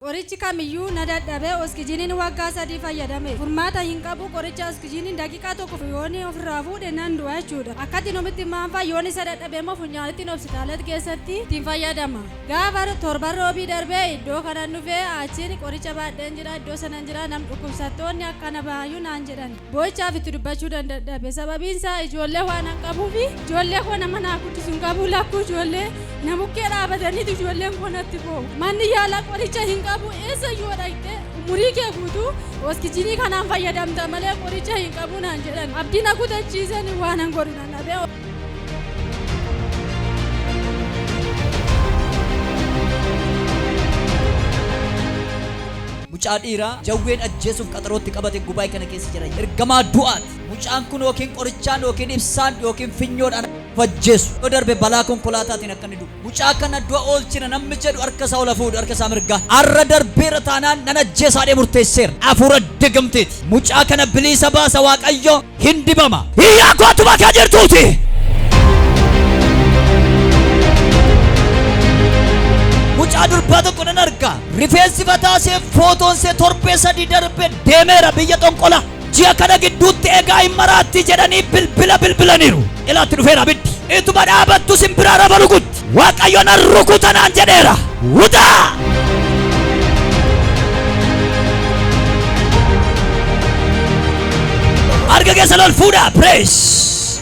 Qorichi kamiyyuu na dadhabe oskijiniin waggaa sadii fayyadame furmaata hin qabu qoricha oskijiniin daqiiqaa tokkof yoon ofirraa fuudhe nan du'a jechuudha akkatti numitti maanfaa yoon isa dadhabemmoo funyaanittin obsitaalat keessatti ittiin fayyadama gaafa torban roobii darbee iddoo kanan dhufee achiin qoricha baadheen jira iddoo sanan jira nam dhukkubsattoonni akkana baayyu naan jedhan boo'ichaaf itti dubbachuu dandadhabe sababiin isaa ijoollee waan an qabuufi ijoollee koo nama naa guddisu hin qabu lakkuu ijoollee na bukkee dhaabataniitu ijoolleen koo natti boo'u manni yaalaa qoricha hin qabu eessa yoo dhaqxe umurii kee guutuu hoskijinii kanaan fayyadamta malee qoricha hin qabu naan jedhan abdii na kutachiisan waan an godhu nan dhabe Mucaa dhiiraa jawween ajjeesuuf qaxarootti qabate gubaa'ee kana keessa jira. Ergamaa du'aati. Mucaan kun yookiin qorichaan yookiin ibsaan yookiin finyoodhaan of ajjeesu. Yoo darbe balaa konkolaataatiin akka inni du'u. Mucaa kana du'a oolchina namni jedhu harka isaa ol haa fuudhu, harka isaa mirgaa. Har'a darbeera taanaan nan ajjeesa jedhee murteesseera. Hafuura digamteeti. Mucaa kana biliisa baasa Waaqayyo, hin dibama. Hiriyaa koo atuma akka jirtuuti. Mucaa durbaa tokko nan arga. Rifeensi mataa ishee, footoon ishee torbee sadii darbe deemeera biyya xonqola. Ji'a kana gidduutti egaa hin maraatti jedhanii bilbila bilbilaniiru. Ilaatti dhufeera abiddi. Ituma dhaabattu simbiraa rafa rukutti. Waaqayyo nan rukuta naan jedheera. Wutaa! Harka keessan ol fuudhaa. Praise.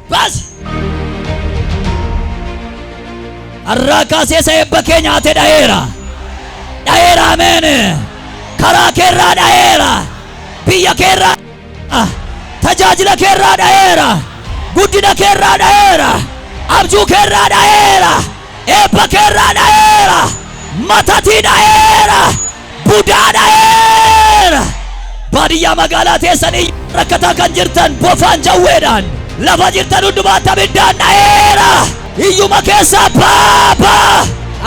Baasi! Har'aa kaasee isa eebba kee nyaate dhaheera. Dhaheera ameen. Karaa keerraa dhaheera. Biyya keerraa dhaheera. Tajaajila keerraa dhaheera. Guddina keerraa dhaheera. Abjuu keerraa dhaheera. Eebba keerraa dhayeera. Matatii dhayeera. Budaa dhayeera. Baadiyyaa magaalaa teessan iyyaa rakkataa kan jirtan bofaan jawweedhaan lafa jirtan hundumaatti abiddaan dhayeera. Iyyuma keessaa baa baa.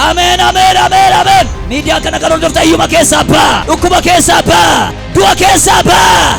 Ameen ameen ameen ameen. Miidiyaa kana kan hordofta iyyuma keessaa baa. Dhukkuba keessaa baa. Du'a keessaa baa.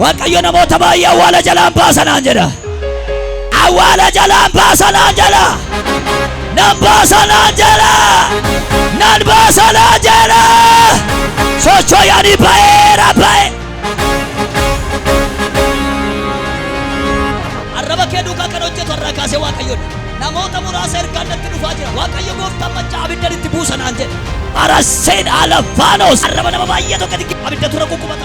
Waaqayyo namoota baay'ee awwaala jalaan baasa naan jedha. Awwaala jalaan baasa naan jedha. Nan baasa naan jedha. Nan baasa naan jedha. Socho'anii ba'eera ba'e. Arraba kee duukaa kan hojjetu irraa kaasee Waaqayyoodha. Namoota muraasa ergaan natti dhufaa jira. Waaqayyo gooftaan maccaa abiddan itti buusa naan jedha. Araseen Alafaanos. Arraba nama baay'ee tokko abidda tura kukkubata.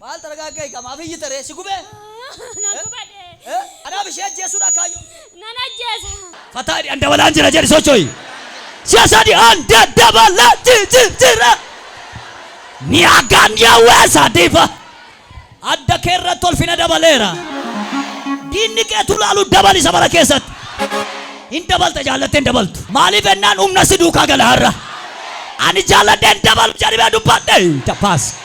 Maal targaaggee egaa maaf iyyita ree? Si gubee? Na guba dee. Eh? Kanaaf ishee ajjeesuudhaa kaayyoon kee? Nan ajjeesa. Fataa jedhi an dabalaan jira jedhi socho'i. Si'a sadi an da dabalaa ji ji jira. Ni hagaan yaawwee saadiifa. Adda kee irratti ulfina dabaleera. Diinni kee tu laalu dabali sabara keessatti. Hin dabalta jaallattee hin dabaltu. Maaliif ennaan humna si duukaa gala har'a. Ani jaalladhee hin dabalu jedhimee dubbadhe. Taphaas.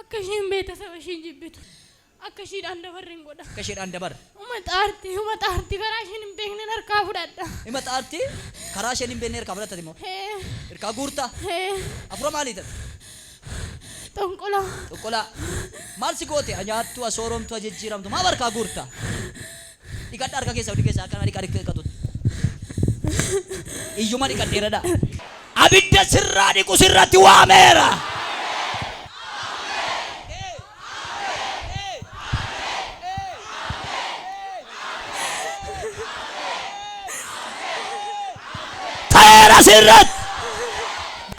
Akka ishiin beetasaba ishii jibbitu. Akka ishiidhaan dabarren godha. Akka ishiidhaan dabarre. Uma xaarti, uma xaarti karaa isheen hin beeknen harkaa fudhadha. Ima xaarti karaa isheen hin beekne irkaa fudhatta ati immoo? Ee. Irkaa guurta? Ee. Afura maalii ati? Xonqolaa. Xonqolaa. Maal si goote? Ha nyaattu, ha sooromtu, ha jijjiiramtu. Maaf harkaa guurta? Dhiqadha harka keessa huddi keessa akka nama dhiqaa dhiqatutti. Iyyuma dhiqadheera dha. Abidda sirraa dhiqu sirratti waameera. Ta'eera sirratti.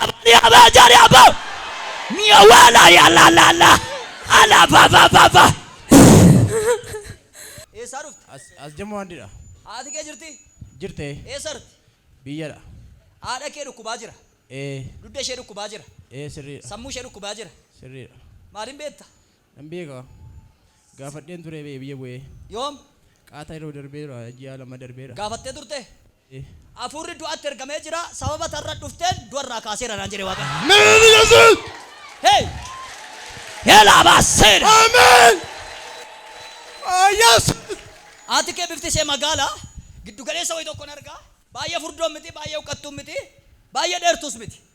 Abani abaa jaari abaa. Mi'a waalaa yaa laa laa laa. Alaa faa faa faa faa. Eessaa dhufte? As, as Jammu Handi dha. Haati kee jirti? Jirte. Eessa irti? Biyya dha. Haadha kee dhukkubaa jira? Ee. Dugda ishee dhukkubaa jira? Ee sirrii dha. Sammuu ishee dhukkubaa jira? Sirrii dha. Maaliin beekta? Nan beeka. Gaafadheen ture bee biyya bu'ee. Yoom? Qaata yeroo darbee dha, ji'a lama darbee dha. Gaafattee turtee? Hafuurri du'atti ergamee jira, sababa ati har'a dhufteen du'a irraa kaaseera naan jedhe Waaqayyo. Amen yesus. Hey! Helaa baaseera! Amen. Oh yesus. Haati kee bifti ishee magaala, giddu galeessa wayii tokkon arga, baay'ee furdoon miti, baay'ee huqqattuun miti, baay'ee dheertuus miti.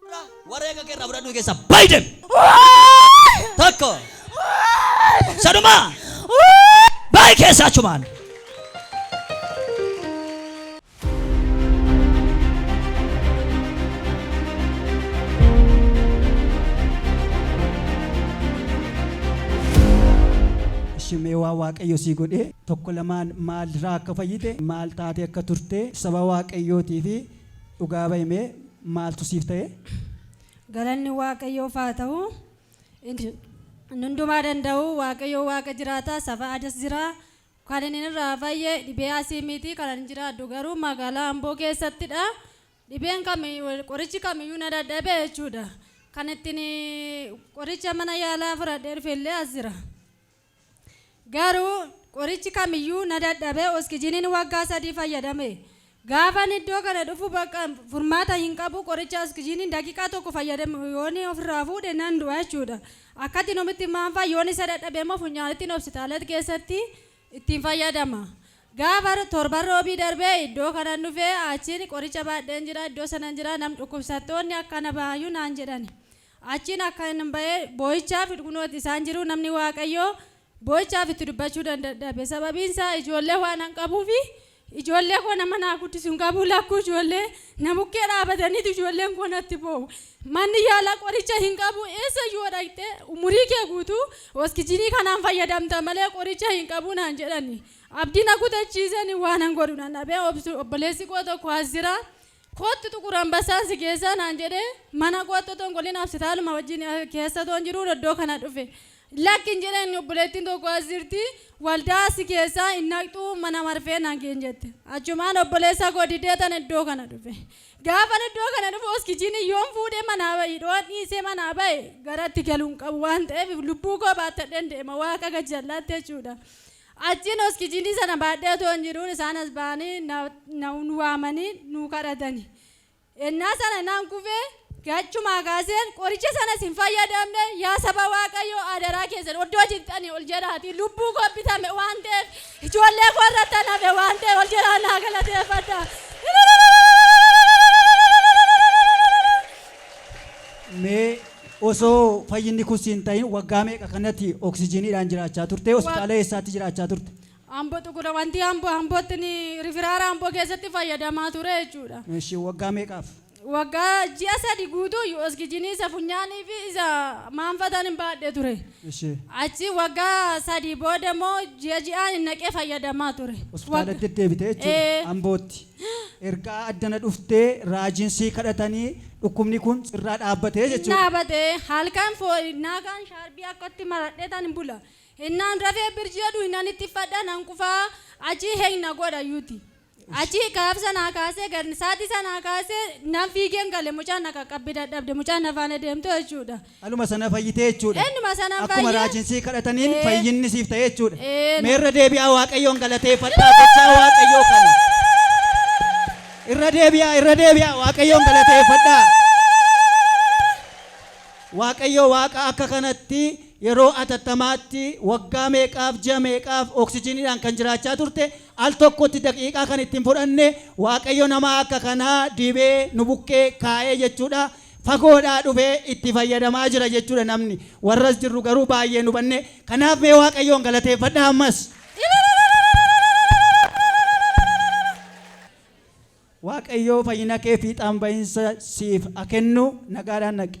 Fudhaa wareega kee irraa fudhadhuu keessa bayi demi. Tokko. Sanuma. Bayi keessa achumaan. Ishimee waa waaqayyo sii godhee tokko lamaan maal irraa akka fayyite maal taatee akka turte saba waaqayyootii fi Dhugaa bayi mee maaltu siif ta'e? Galanni Waaqayyoof haa ta'u. Inni hundumaa danda'u Waaqayyoo Waaqa jiraataa saba Adas jira. Kan inni irraa fayye dhibee asii miiti. Kan ani jiraadhu garuu magaalaa Amboo keessattidha. Dhibeen kami qorichi kamiyyuu na dadhabe jechuudha. Kan ittiin qoricha mana yaalaa fudhadhee dhufe illee as jira. Garuu qorichi kamiyyuu na dadhabe oskijiniin waggaa sadii fayyadame. Gaafan iddoo kana dhufu bakka furmaata hin qabu qoricha oskijiniin daqiiqaa tokko fayyadame yoon ofirraa fuudhe nan du'a jechuudha. Akkatti numitti maanfaa yoon isa dadhabe immoo funyaanittin hopsitaalat keessatti ittiin fayyadama. Gaafa torban roobii darbe iddoo kanan dhufe achiin qoricha baadheen jira iddoo sanan jira nam dhukkubsattoonni akka na baayu naan jedhani. Achiin akkan ba'e boo'ichaa fi dhugnootti isaan jiruu namni Waaqayyoo boo'ichaaf itti dubbachuu dandadhabe. Sababiin isaa ijoollee waanan qabuuf ijoollee koo nama naa guddisu hin qabuu lakkuu ijoollee na bukkee dhaabataniitu ijoolleen koo natti boo'u. Manni yaala qoricha hin qabu eessa iyyuu yoo dhaqxe umurii kee guutuu oskijinii kanaan fayyadamta malee qoricha hin qabu naan jedhani. Abdii na kutachiisani waanan godhu nan dhabe obboleessi koo tokko as jira Kottu Xuqur Anbassaan si geessaa naan jedhee mana kootti otoo hin galin hapsitaaluma wajjin keessa otoo hin jiruun iddoo kana dhufe. Lakki hin jedheen obboleettiin tokko as jirti waldaa asi keessa hin dhaqxuu mana marfee nageen jette. Achumaan obboleessa koo dideetan iddoo kana dhufe. Gaafan iddoo kana dhufu oskijiinii yoon fuudhee manaa bahe dhoon dhiisee manaa bahe garatti galu hin qabu waan ta'eef lubbuu koo baattadheen deema waaqa gajjallaatti jechuudha. Achiin oskijinii sana baadhee otoon jiruu isaan as ba'anii na, na waamanii nuu kadhatani. Ennaa sana nan kufee gachumaa kaaseen qoricha sanas hin fayyadamne yaa saba Waaqayyoo adaraa keessan oddoo jirtanii ol jedhaatii lubbuu koo bitame waan ta'eef ijoollee koo irrattan hafe waan ta'eef ol jedhaa naa galateeffadhaa. Mee osoo fayyinni kun si hin tahin waggaa meeqa kanatti oksijiiniidhaan jiraachaa turte? Hospitaala eessaatti jiraachaa turte? Ambo Xugura wanti Ambo Ambootti ni rifiraara Amboo keessatti fayyadamaa ture jechuudha. Eshi waggaa meeqaaf? Waggaa ji'a sadi guutuu iyyuu oskijinii isa funyaanii fi isa maanfataan hin baadhe ture. Eshi. Achi waggaa sadii booda immoo ji'a ji'aan hin naqee fayyadamaa ture. Hospitaala Wagga- deddeebite jechuudha. Ee. Ambootti. Ergaa addana dhuftee raajiin sii kadhatanii dhukkubni kun sirraa dhaabbate hin jechuudha. dhaabate halkan foon hinnaa kaan shaarbii akkatti maradhetan bula hinnaan rafee birji jedhu hinnan ittiffadha nan qufaa achii heng na godha yuti achii kaaf sanaa kaasee gad saatii sanaa kaasee nan fiigeen gale mucaan na qaqqabbi dadhabde mucaan na faana deemtu jechuudha. Dhaluma sana fayyite jechuu dha. Innuma sanan Akkuma fayye. raajiin sii kadhataniin Ee. fayyinni siif ta'e jechuu dha. Eena. Mee irra deebi'aa Waaqayyoon galateeffadhaa gochaa Waaqayyoo kana. Irra deebi'aa, irra deebi'aa Waaqayyoon galateeffadhaa. Waaqayyo Waaqa akka kanatti yeroo atattamaatti waggaa meeqaaf ji'a meeqaaf oksijiniidhaan kan jiraachaa turte al tokkotti daqiiqaa kan ittiin fudhanne Waaqayyo nama akka kanaa dibee nu bukkee kaa'ee jechuudha. fagoodhaa dhufee itti fayyadamaa jira jechuudha namni warra as jirru garuu baay'ee hin hubanne kanaaf mee waaqayyoon galateeffadhaa ammas waaqayyoo fayyina kee fiixaan ba'iinsa siif ha kennu nagaadhaan dhaqi.